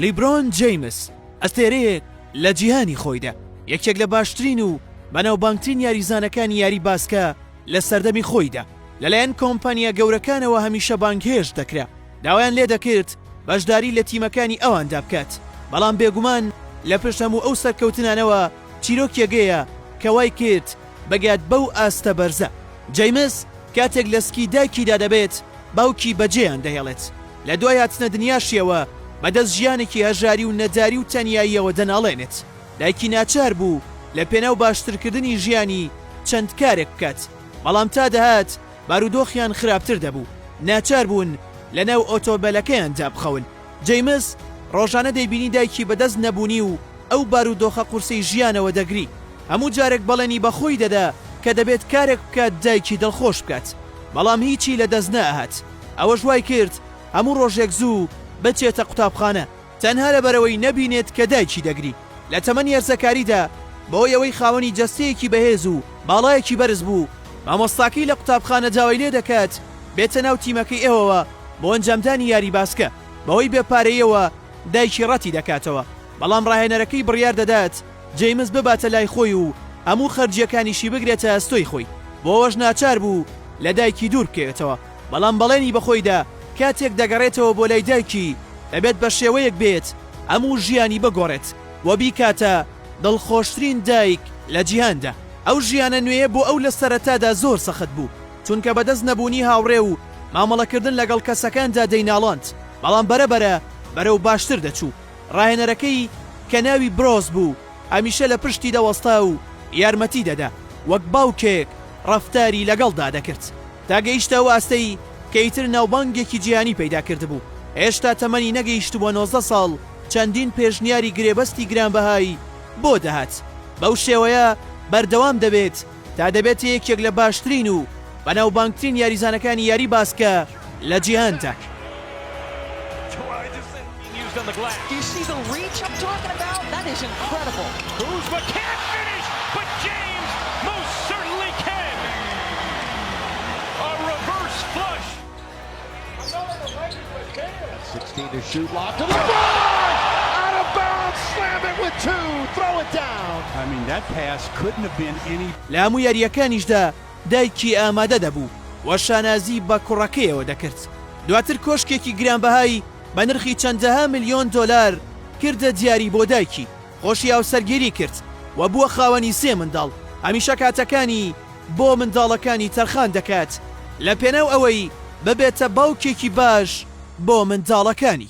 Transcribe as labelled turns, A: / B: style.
A: لیبرۆن جەیمس ئەستێرەیەک لە جیهانی خۆیدا، یەکێک لە باشترین و بەناوبانگترین یاریزانەکانی یاری باسکە لە سەردەمی خۆیدا، لەلایەن کۆمپانیا گەورەکانەوە هەمیشە بانگهێشت دەکرا، داوایان لێدەکرد بەشداری لە تیمەکانی ئەواندا بکات، بەڵام بێگومان لە پشت هەموو ئەو سەرکەوتنانەوە چیرۆکێگەیە کە وایکرد بگات بەو ئاستە بەرزە. جەیمس کاتێک لە سکی دایکیدا دەبێت، باوکی بەجێیان دەهێڵێت. لە دوای هاتنە دنیاشیەوە بە دەست ژیانێکی هەژاری و نەداری و تەنیاییەوە دەناڵێنێت، دایکی ناچار بوو لە پێناو باشترکردنی ژیانی چەند کارێک بکات، بەڵام تا دەهات بارودۆخیان خراپتر دەبوو، ناچار بوون لە ناو ئۆتۆمبێلەکەیاندا بخەون، جەیمس ڕۆژانە دەیبینی دایکی بە دەست نەبوونی و ئەو بارودۆخە قورسەی ژیانەوە دەگری، هەموو جارێک بەڵێنی بە خۆی دەدا کە دەبێت کارێک بکات دایکی دڵخۆش بکات، بەڵام هیچی لە دەست نەئەهات. ئەوەش وای کرد هەموو ڕۆژێک زوو بچێتە قوتابخانە تەنها لەبەرئەوەی نەبینێت کە دایکی دەگری. لە تەمەنی هەرزەکاریدا بەهۆی ئەوەی خاوەنی جەستەیەکی بەهێز و باڵایەکی بەرز بوو، مامۆستاکەی لە قوتابخانە داوای لێدەکات بێتە ناو تیمەکەی ئێوەوە بۆ ئەنجامدانی یاری باسکە، بەهۆی بێ پارەییەوە دایکی ڕەتیدەکاتەوە، بەڵام ڕاهێنەرەکەی بڕیاردەدات، جەیمس بباتە لای خۆی و هەموو خەرجییەکانیشی بگرێتە ئەستۆی خۆی، بۆوەش ناچار بوو لە دایکی دوور بکەوێتەوە، بەڵام بەڵێنی بە خۆی دا کاتێک دەگەڕێتەوە بۆ لای دایکی دەبێت بە شێوەیەک بێت هەموو ژیانی بگۆڕێت و بیکاتە دڵخۆشترین دایک لە جیهاندا. ئەو ژیانە نوێیە بۆ ئەو لە سەرەتادا زۆر سەخت بوو، چونکە بەدەست نەبوونی هاوڕێ و مامەڵەکردن لەگەڵ کەسەکاندا دەیناڵاند، بەڵام بەرەبەرە بەرەو باشتر دەچوو. ڕاهێنەرەکەی کە ناوی برۆس بوو هەمیشە لە پشتی دەوەستا و یارمەتی دەدا، وەک باوکێک ڕەفتاری لەگەڵدا دەکرد، تا گەیشتە ئەو ئاستەی کە ئیتر ناوبانگێکی جیهانی پەیدا کردبوو، هێشتا تەمەنی نەگەیشتبووە نۆزدە ساڵ چەندین پێشنیاری گرێبەستی گرانبەهای بۆ دەهات، بەو شێوەیە بەردەوام دەبێت. تا دەبێتە یەکێک لە باشترین و بەناوبانگترین یاریزانەکانی یاری باسکە لە جیهاندا.
B: لە هەموو یارییەکانیشدا
A: دایکی ئامادە دەبوو و شانازی بە کوڕەکەیەوە دەکرد، دواتر کۆشکێکی گرانبەهای بە نرخی چەندەها ملیۆن دۆلار کردە دیاری بۆ دایکی، خۆشی هاوسەرگیری کرد و بووە خاوەنی سێ منداڵ، هەمیشە کاتەکانی. بۆ منداڵەکانی تەرخان دەکات لەپێناو ئەوەی ببێتە باوکێکی باش بۆ منداڵەکانی.